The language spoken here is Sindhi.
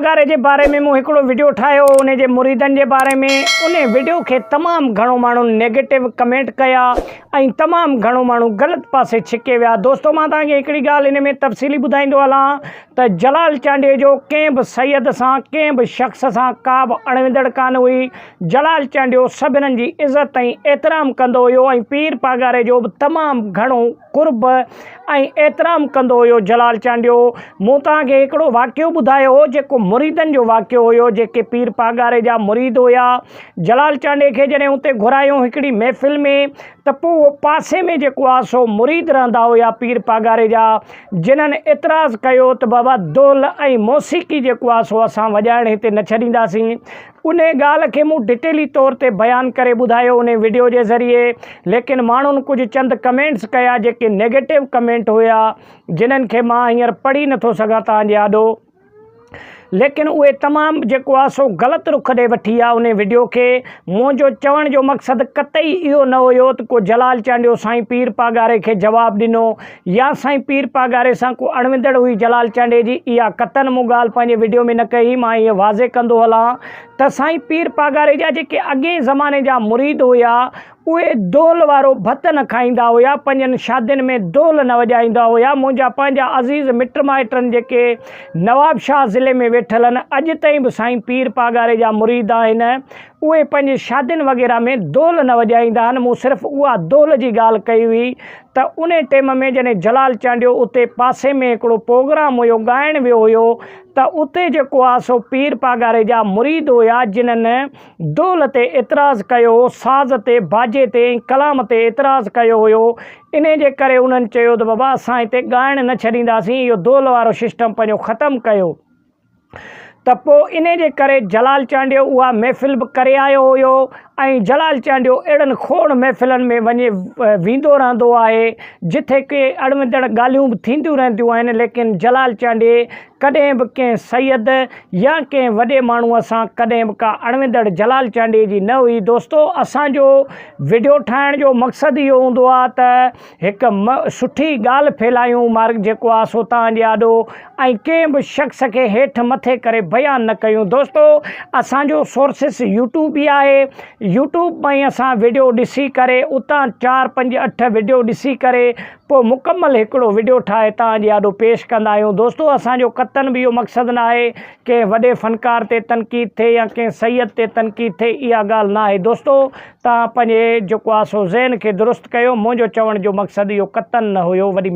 ڳاري جي باري ۾ مون هڪڙو وڊيو ٺاهيو هو ان جي مريدن جي باري ۾ ان وڊيو کي تمام گهڻو ماڻهن نيگيٽو ڪمينٽ ڪيا ۽ تمام گهڻو ماڻهو غلط پاسي ڇڪي ويا دوستو مان توهان کي هڪڙي ڳالهه ان ۾ تفصيلي ٻڌائيندو هلان ته جلال چانڊيو جو ڪنهن به سيد سان ڪنهن به شخص سان ڪا به اڻويندڙ ڪانه هئي جلال چانڊيو سڀنن جي عزت ۽ احترام ڪندو هيو ۽ پير پاڳاري جو به تمام گهڻو قرب ۽ احترام ڪندو هيو جلال چانڊيو مون توهان کي هڪڙو واقعو ٻڌايو هو جيڪو مريدن جو واقعو هيو جيڪي پير پاڳاري جا مريد هيا جلال چانڊي کي جڏهن اتي گهرايون هڪڙي محفل ۾ ته پوء اهو پاسي ۾ جيڪو آ سو مريد رهندا هيا پير پاڳاري جا جنهن اعتراض ڪيو ته بابا دول ۽ موسيقي جيڪو آ سو اسان وڄائڻ هتي نه ڇڏينداسين انهيء ڳالهه کي مون ڊٽيلي طور تي بيان ڪري ٻڌايو انهيء وڊيو جي ذريعي ليڪن ماڻهن ڪجهه چند ڪمينٽس ڪيا جيڪي نيگيٽو ڪمينٽ هيا جنهن کي مان هينئر پڙهي نٿو سگهان توهان جي آڏو ليڪن اهي تمام جيڪو آهي سو غلط رخ ڏي وٺي آهي انهيء وڊيو کي منهنجو چوڻ جو مقصد قطعي اهو نه هيو ته ڪو جلال چانڊيو سائين پير پاڳاري کي جواب ڏنو يا سائين پير پاڳاري سان ڪو اڻوندڙ هئي جلال چانڊئي جي اها قطعن مون ڳالهه پنهنجي وڊيو ۾ نه ڪئي مان هيء واضح ڪندو هلان ته سائين پير پاڳاري جا جيڪي اڳئين زماني جا مريد هيا اهي دهل وارو ڀت نه کائيندا هيا پنهنجن شادين ۾ دهل نه وڄائيندا هيا منهنجا پنهنجا عزيز مٽ مائٽن جيڪي نوابشاهه ضلعي ۾ ويٺل ان اڄ تائين به سائين پير پاڳاري جا مريد آهن اهي پنهنجي شادين وغيره ۾ دهل نه وڄائيندا آهن مون صرف اها دهل جي ڳالهه ڪئي هئي ته ان ٽيم ۾ جڏهن جلال چانڊيو اتي پاسي ۾ هڪڙو پروگرام هيو ڳائڻ ويو هيو ته اتي جيڪو آ سو پير پاڳاري جا مريد هيا جنھن دول تي اعتراض ڪيو ساز تي باجي تي ۽ ڪلام تي اعتراض ڪيو هيو انھي جي ڪري انھن چيو ته بابا اسان هتي ڳائڻ نه ڇڏينداسين اهو دول وارو سسٽم پنھنجو ختم ڪيو. ته پوء انهيء جي ڪري جلال چانڊيو اها محفل به ڪري آيو هيو ۽ جلال چانڊيو اهڙن کوڙ محفلن ۾ وڃي ويندو رهندو آهي جتي ڪي اڻوندڙ ڳالهيون به ٿينديون رهنديون آهن ليڪن جلال چانڊيي ڪڏهن به ڪنهن سيد يا ڪنهن وڏي ماڻهوء سان ڪڏهن به ڪا اڻوندڙ جلال چانڊيي جي نه هئي دوستو اسان جو وڊيو ٺاهڻ جو مقصد اهو هوندو آهي ته هڪ م سٺي ڳالهه ڦيلايون مارڪ جيڪو آ سو تان جي آڏو ۽ ڪنهن به شخص کي هيٺ مٿي ڪري بيان نه ڪيون دوستو اسان جو سورسس يوٽيوب ئي آهي يوٽيوب ۾ اسان ويڊيو ڏسي ڪري اتان چار پنج اٺ ويڊيو ڏسي ڪري پو مڪمل هڪڙو ويڊيو ٺاهي تان جي آڏو پيش ڪندا آهيون دوستو اسان جو قطعن به اهو مقصد نه آهي ڪنهن وڏي فنڪار تي تنقيد ٿئي يا ڪنهن سيد تي تنقيد ٿئي اها ڳالهه نه آهي دوستو توهان پنهنجي جيڪو آسو ذهن کي درست ڪيو، منهنجو چوڻ جو مقصد اهو قطعاً نه هيو، وڏي.